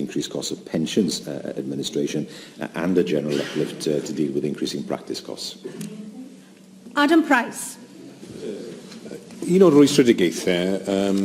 increased costs of pensions administration and a general uplift to deal with increasing practice costs. Adam Price. Un o'r rwystredigaethau um,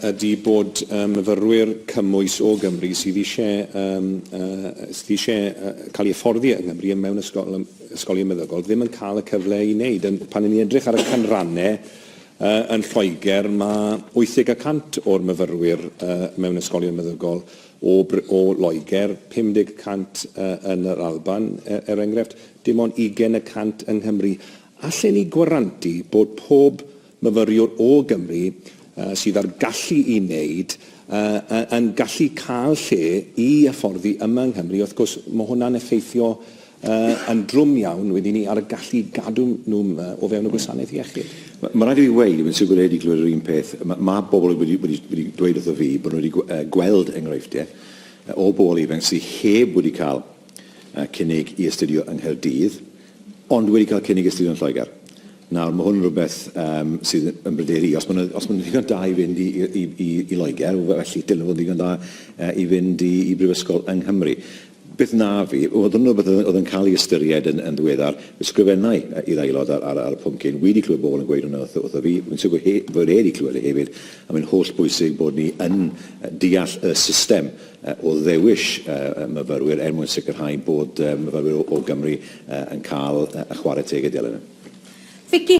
ydy bod um, myfyrwyr cymwys o Gymru sydd eisiau, um, uh, sydd eisiau uh, cael ei hyfforddi yng Nghymru mewn ysgol, ysgolion meddygol ddim yn cael y cyfle i wneud. Pan ni'n edrych ar y canrannau Yn Lloegr, mae 80 y cant o'r myfyrwyr mewn ysgolion meddygol o Loegr, 50 y cant yn yr Alban, er enghraifft, dim ond 20 y cant yng Nghymru. Allen ni gwarantu bod pob myfyriwr o Gymru sydd â'r gallu i wneud yn gallu cael lle i hyfforddi yma yng Nghymru? Wrth gwrs, mae hwnna'n effeithio yn drwm iawn wedi 'ny ar y gallu i gadw nhw 'ma o fewn y gwasanaeth iechyd. Mae'n rhaid i fi weud, mae'n siwgr rhaid i glywed yr un peth, mae pobl wedi dweud wrtho fi bod nhw wedi gweld enghreifftiau o bobl ifanc sydd heb wedi cael cynnig i astudio yng Nghaerdydd, ond wedi cael cynnig i astudio yn Lloegr. Nawr, mae hwn yn rhywbeth sydd yn bryderu i. Os maen nhw'n ddigon da i fynd i Loegr, felly dylen nhw fod yn ddigon da i fynd i brifysgol yng Nghymru. Beth na fi, oedd yn rhywbeth oedd yn cael ei ystyried yn ddiweddar, ysgrifennai i'r Aelod ar y pwnc hyn, wedi clywed bobl yn gweud hwnna wrtho fi, rwy'n siwr fod e wedi clywed e hefyd, a mae'n hollbwysig bod ni yn deall y system o ddewis myfyrwyr er mwyn sicrhau bod myfyrwyr o Gymru yn cael y chwarae teg y dylai nhw. Vicky.